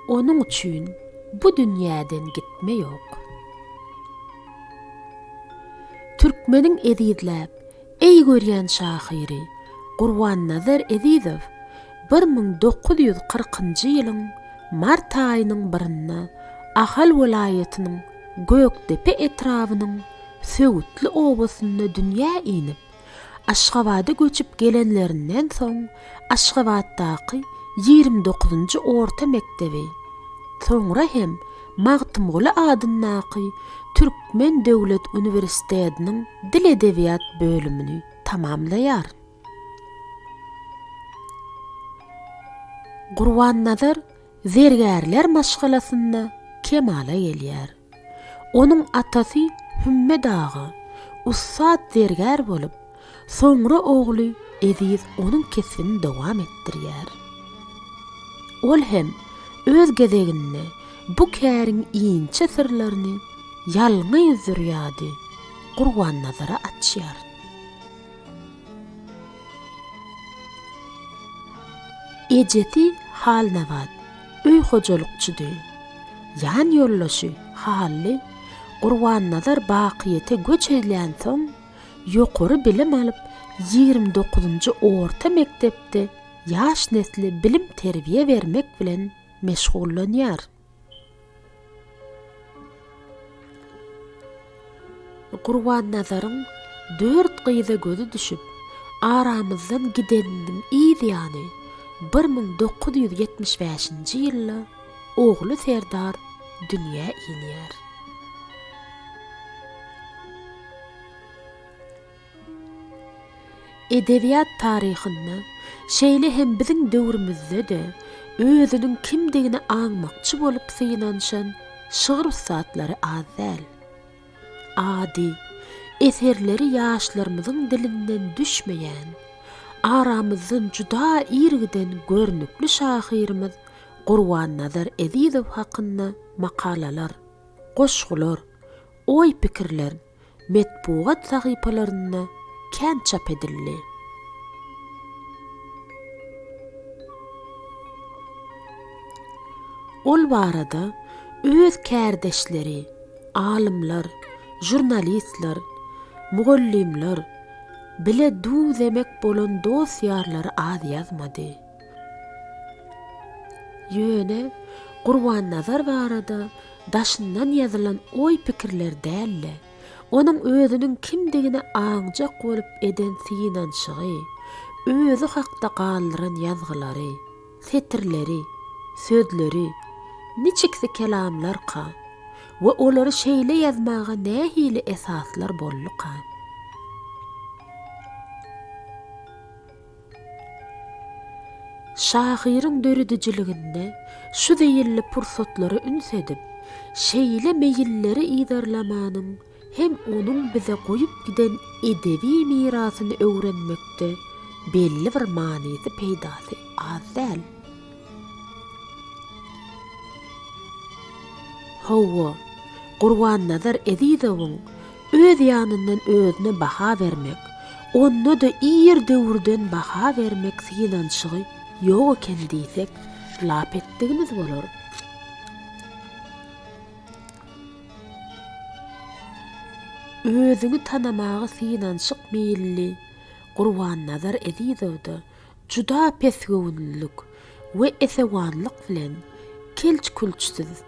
Onuň üçin bu dünýäden gitme ýok. Türkmeniň ezizläp, eý görýän şahyry Gurbannazar Ezizow bir müň dokuz ýüz kyrkynjy ýylyň mart aýynyň birinde Ahal welaýatynyň Gökdepe etrabynyň Söwütli obasynda dünýä inip, Aşgabada göçüp gelenlerinden soň Aşgabatdaky ýigrimi dokuzynjy orta mekdebi, soňra hem Magtymguly adyndaky Türkmen döwlet uniwersitediniň dil-edebiýat bölümini tamamlaýar. Gurbannazar zergärler maşgalasynda kemala gelýär. Onuň atasy Hümme dagy, ussat zergär bolup, soňra ogly Eziz onuň kesbini dowam etdirýär. Ol hem öz gezeginde bu käriň inçe syrlaryny ýalňy zürýady Gurbannazara açýar. Ejesi Halnabat. Öý hojalykçydy. Ýan ýoldaşy Hally Gurbannazar bakyýete göç edlänsoň, ýokary bilim alyp, ýigrimi dokuzynjy orta mekdepde ýaş nesle bilim-terbiýe bermek bilen meşgullanýar. Gurbannazaryň dört gyza gözi düşüp, aramyzdan gideniniň yz ýany bir müň dokuz ýüz ýetmiş bäşinji ýylda ogly Serdar dünýä inýär. Edebiýat taryhynda, şeýle hem biziň döwrümizde-de özüniň kimdigini aňmakçy bolup synanyşan şygyr ussatlary az däl. Ady, eserleri ýaşlarymyzyň dilinden düşmeýän, aramyzdan juda ir giden görnükli şahyrymyz Gurbannazar Ezizow hakynda makalalar, goşgular, oý-pikirler, metbugat sahypalarynda kän çap edildi. Ol barada öz kärdeşleri, alymlar, žurnalistler, mugallymlar, bile duw-zemek bolan dost-ýarlary az ýazmady. Ýöne Gurbannazar barada daşyndan ýazylan oý-pikirler däl-de, onuň özüniň kimdigine aňjak bolup eden synanyşygy, özi hakda galdyran ýazgylary, setirleri, sözleri, niçiksi kelamlarka we olary şeýle ýazmaga nähili esaslar bolduka? Şahyryň döredijiliginde şu zeýilli pursatlara üns edip, şeýle meýilleri yzarlamanyň hem onuň bize goýup giden edebi mirasyny öwrenmekde belli bir manysy-peýdasy az däl. Hawa, Gurbannazar Ezizowyň öz ýanyndan özüne baha bermek, onda-da ir döwürden baha bermek synanyşygy ýok eken diýsek, lap etdigimiz bolar. Özüňi tanamaga synanyşyk meýilli Gurbannazar Ezizowda Juda pesgöwünlilik we esewanlyk bilen kelç-külçsiz,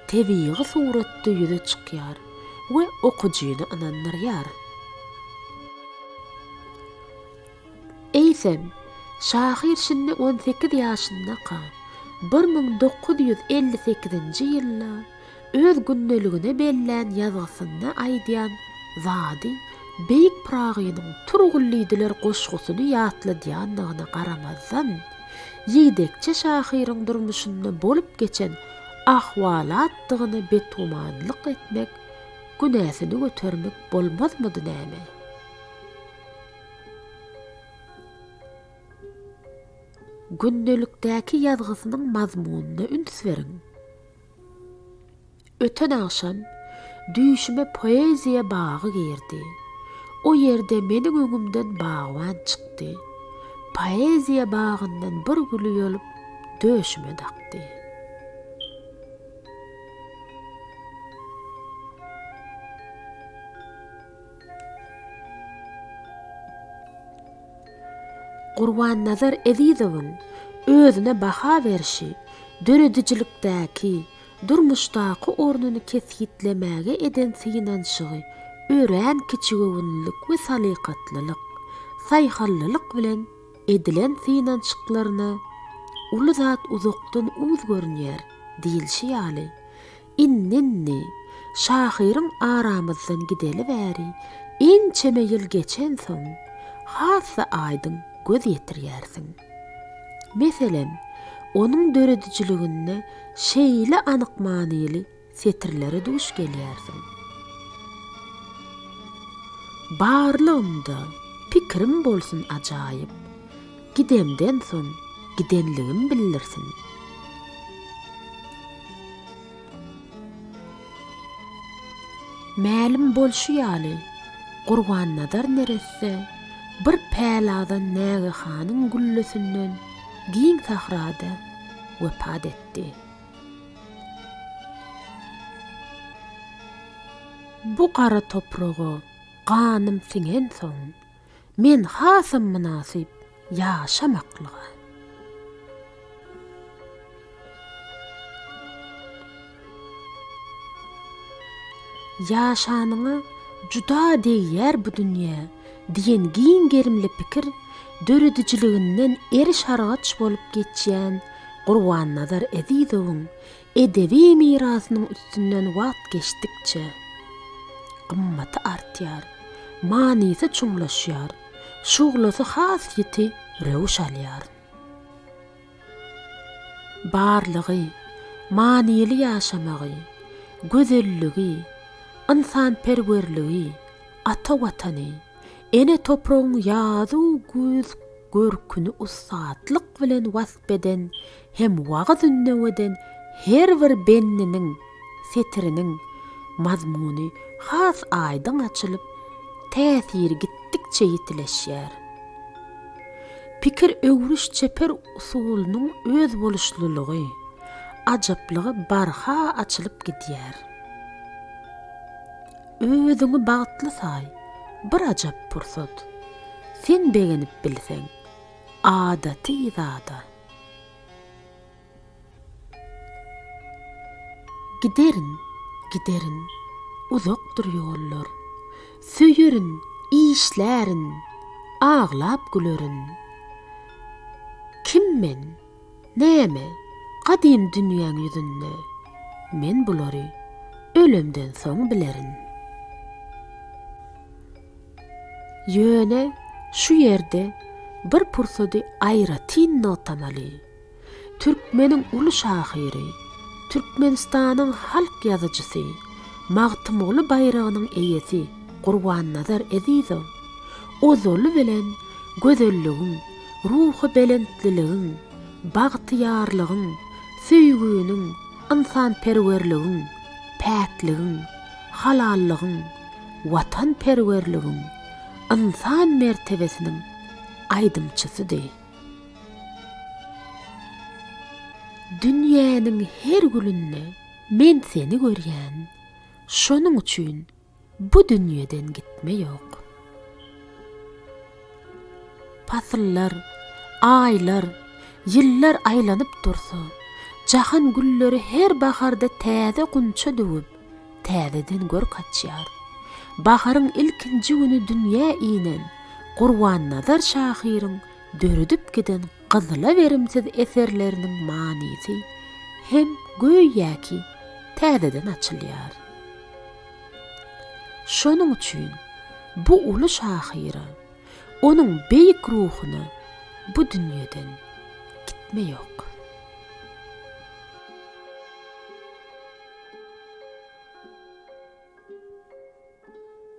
tebigy suratda ýüze çykýar we okyjyny ynandyrýar. Eýsem, şahyr şindi on sekiz ýaşyndaka, bir müň dokuz ýüz elli sekizinji ýylda, Öz gündeligine bellän ýazgysynda aýdýan zady Beýik Pyragynyň Turgullydylar goşgusyny ýatladýandygyna garamazdan, ýigdekçe şahyryň durmuşynda bolup geçen ahwalatdygyna betgümanlyk etmek, günäsini götermek bolmazmydy näme? Gündelikdäki ýazgysynyň mazmunyna üns beriň. Öten agşam düýşüme poeziýa bagy girdi. O ýerde meniň öňümden bagban çykdy. Poeziýa bagyndan bir güli ýolup döşüme dakdy. Gurbannazar Ezizowyň özüne baha berşi döredijilikdäki, durmuşdaky ornuny kesgitlemäge eden synanyşygy örän kiçigöwünlilik we salykatlylyk, saýhal-lylyk bilen edilen synanyşyklaryna uly zat uzakdan uz görünýär diýilşi ýaly, Indi-indi, şahyryň aramyzdan gideli bäri ençeme ýyl geçensoň, has-da aýdyň göz ýetirýärsiň. Meselem, onuň döredijiliginde şeýle anyk manyly setirlere duş gelýärsiň. Barlygymda pikirim bolsun ajaýyp, gidemden soň gidenligim bildirsin. Mälim bolşy ýaly, Gurbannazar neresse bir päladan nägehanyň güllesinden giň sahrada wepat etdi. Bu gara topraga ganym siňensoň, Men hasam mynasyp ýaşamaklyga. Ýaşanyňa juda degýär bu dünýä diýen giň gerimli pikir döredijiliginden eriş-argaç bolup geçýän Gurbannazar Ezizowyň Edebi mirasynyň üstünden wagt geçdikçe, gymmaty artýar, manysy çuňlaşýar, şuglasy has ýiti röwüş alýar. Barlygy, manyly ýaşamagy, gözelligi, ynsanperwerligi, ata Watany, ene topragyň ýazu-güýz görküni ussatlyk bilen wasp eden hem wagyz-ündeweden her bir bendiniň, setiriniň, mazmuny has aýdyň açylyp, täsiri gitdikçe ýitileşýär. Pikir öwrüş çeper usulynyň özboluşlylygy, ajaplygy barha açylyp gidýär. Özüňi bagtly saý, bir ajap pursat, sen begenip bilseň, adaty zada. Giderin, giderin, uzakdyr ýollar, Söýerin, işlärin, aglap gülerin. Kim men, näme, gadym dünýäň ýüzünde, Men bulary ölemden soň bilerin. Ýöne şu ýerde bir pursady aýratyn nygtamaly. Türkmeniň uly şahyry, Türkmenistanyň halk ýazyjysy, Magtymguly baýragynyň eýesi Gurbannazar Ezizow ozaly bilen gözelligiň, ruhubelentliligiň, bagtyýarlygyň, söýginiň, ynsanperwerligiň, päkligiň, halallygyň, watanperwerligiň, ynsan mertebesiniň aýdymçysydy. Dünýäniň her gülünde men seni görýän, şonuň üçin bu dünýeden gitme ýok. Pasyllar, aýlar, ýyllar aýlanyp dursa, jahan gülleri her baharda täze gunça döwüp, täzeden görk açýar. Baharyň ilkinji güni dünýä inen Gurbannazar şahyryň döredip giden gyzylaberimsiz eserleriniň manysy hem göýäki täzeden açylýar. Şonuň üçin bu uly şahyra, onuň beýik ruhuna bu dünýeden gitme ýok.